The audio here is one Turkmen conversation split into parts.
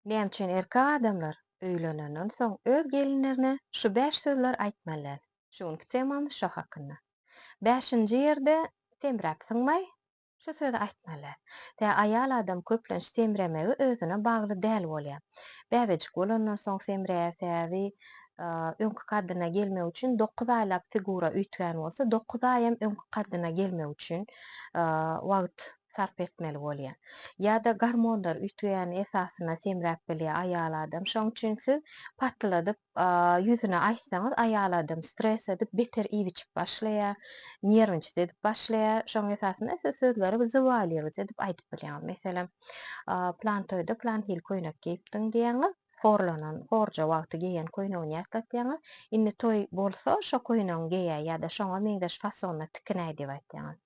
Näme üçin erkek adamlar öýlenenden soň öz gelinlerine şu bäş sözler aýtmaly däl? Şu günki temamyz şo hakynda. Bäşinji ýerde semräp synmaý, şu sözi aýtmaly däl. Tä aýal adam köplenç semremegi özüne bagly däl bolýar. Bäbejik bolandan soň semreýär, sebäbi öňki kaddyna gelmek üçin dokuz aýlap figura üýtgän bolsa, dokuz aýam öňki kaddyna gelmek üçin wagt sarp etmeli bolýar. Ýa-da gormonlar üýtgeýän esasyna semräp bilýär aýal adam. Şoň üçin siz patladyp ýüzüne aýtsaňyz aýal adam stres edip beter iýip-içip başlaýar, nerwnçit edip başlaýar. Şoň esasyna siz sözleri zywalýrwt edip aýdyp bilýäňiz. Meselem, plan toýda plan hili köýnek geýipdiň diýýäňiz. horlanan horja wagty geýen köýnegini ýatlatýaňyz. Indi toý bolsa şo köýnegiňi geýäý ýa-da şoňa meňzeş fasonda tikinäý diýip aýtýaňyz.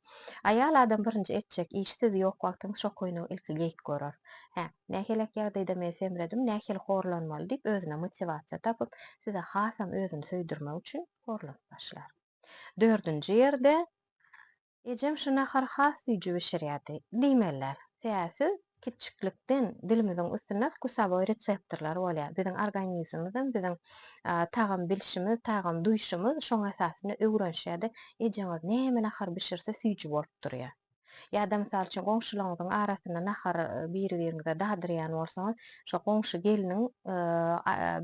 Aýal adam birinji etjek işi siz ýok wagtyňyz şo köýnegi ilki geýip görer. Hä, näheleak ýagdaýda men semredim, nähili horlanmaly diýip özüne motiwasiýa tapyp, size hasam özüni söýdürmek üçin horlanyp başlar. Dördünji ýerde, Ejem şu nahary has süýji bişirýärdi. Diýmeliler. Säsiz kiçjiklikden dilimiziň üstünde wkusowoý reseptorlar bolýar. Biziň organizmimizem biziň tagam bilşimiz, tagam duýşumyz şoň esasynda öwrenişýär-de, ejeňiz näme nahar bişirse süýji bolup durýar. Ýa-da mysal üçin goňşularyňyzyň arasynda nahar biri-biriňize dadyrýan bolsaňyz, şo goňşy gelniň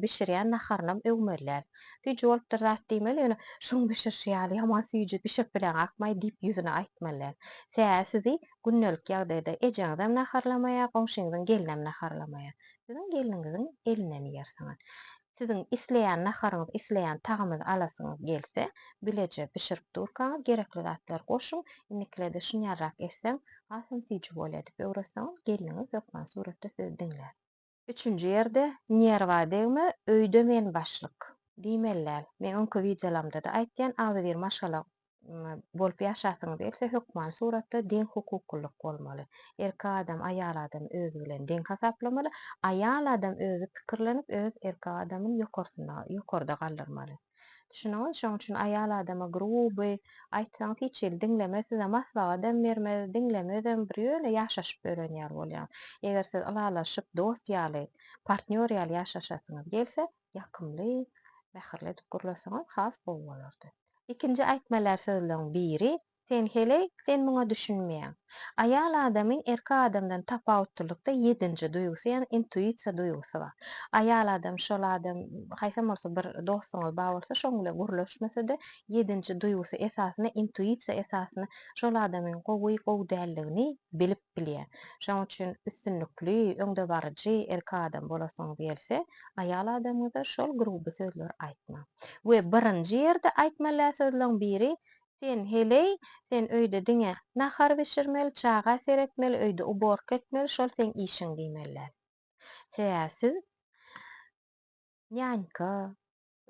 bişirýän naharynam öwmeliler. Süýji bolupdyr zat diýmeli, ýöne şuň bişirişi ýaly ýaman süýji bişirip bileňakmaý diýip ýüzüne aýtmaly däl. Tä-ä sizi gündelik ýagdaýda ejeňizem naharlamaýar, goňşyňyzyň gelinem naharlamaýar. Siziň gelniňiziň elinden iýersiňiz. Siziň isleýän naharyňyz, isleýän tagamyňyzy alasyňyz gelse, bileje bişirip durkaňyz gerekli zatlary goşuň, indikilerde şunýalrak etseň, hasam süýji bolýar diýip öwretseňiz, gelniňiz hökman suratda sizi diňlär. Üçünji ýerde nerwa degme öýde men başlyk. Diýmeli däl. Men öňki wideolarimde-de aýtýan agzybir maşgala bolup ýaşasyňyz gelse hökmany suratda deň hukuklylyk bolmaly. Erkek adam aýal adamy özi bilen deň hasaplamaly, aýal adam özi pikirlenip öz erkek adamyny ýokarsynda ýokarda galdyrmaly. Düşündüňiz? Şoň üçin aýal adama gruby, aýtsaňyz hiç hili diňlemez, size maslahatam bermez, diňlemezem, bir ýöne ýaşaşyp ýören ýaly bolýar. Eger siz ylalaşyp, dost ýaly, partnýor ýaly ýaşaşasyňyz gelse, ýakymly, mähirli edip gürleseňiz has gowy bolardy. Ikinji aýtmalar sözleň biri, Sen heleý, sen muňa düşünmeýäň. Aýal adamyň erkek adamdan tapawutlylykda ýedinji duýgusy, ýagny intuisiýa duýgusy bar. Aýal adam şol adam, haýsam bolsa bir dostuňyz bar bolsa, şoň bilen gürleşmese-de, ýedinji duýgusy esasynda, intuisiýa esasynda şol adamyň gowy, gowy däldigini bilip bilýär. Şoň üçin üstünlikli, öňdebaryjy erkek adam bolasyňyz gelse, aýal adamyňyza şol gruby sözleri aýtmaň. We birinji ýerde aýtmalä sözleň biri, Sen, heleý, sen öýde diňe, nahar bişirmeli, çaga seretmeli, öýde uborka etmeli, şol seň işiň diýmeliler. Sebäbi siz nýanýka,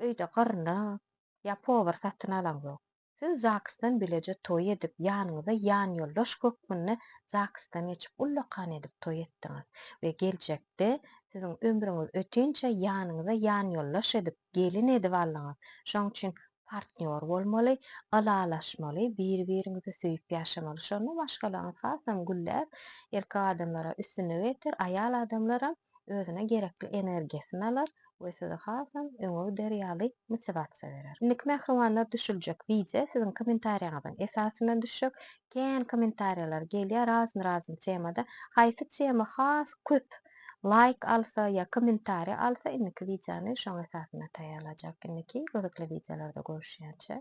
öýde gyrnak, ýa powar satyn alaňzok. Siz zagsdan bileje toý edip, ýanyňyza ýanýoldaş hökmünde zagsdan geçip, ullakan edip toý etdiňiz we geljekde siziň ömrüňiz ötinçä ýanyňyza ýanýoldaş edip, gelin edip aldyňyz. Şoň üçin partnýor bolmaly, ylalaşmaly, biri-biriňizi söýüp ýaşamaly. Şonda maşgalaňyz hasam gülläp, erkek adamlara üstünlik eder, aýal adamlaram özüne gerekli energiýasyny alar we size hasam öňe gider ýaly motiwasiýa berer. Indiki mähribanlar düşüljek wideo siziň kommentariýaňyzyň esasynda düşjek. Kän kommentariýalar gelýär, razyny-razyny temada. Haýsy tema has köp laýk alsa ýa kommentariýa alsa indiki wideony şoň esasynda taýýarlajak indiki gyzykly wideolarda görüşýänçä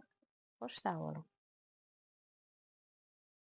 hoş sag boluň.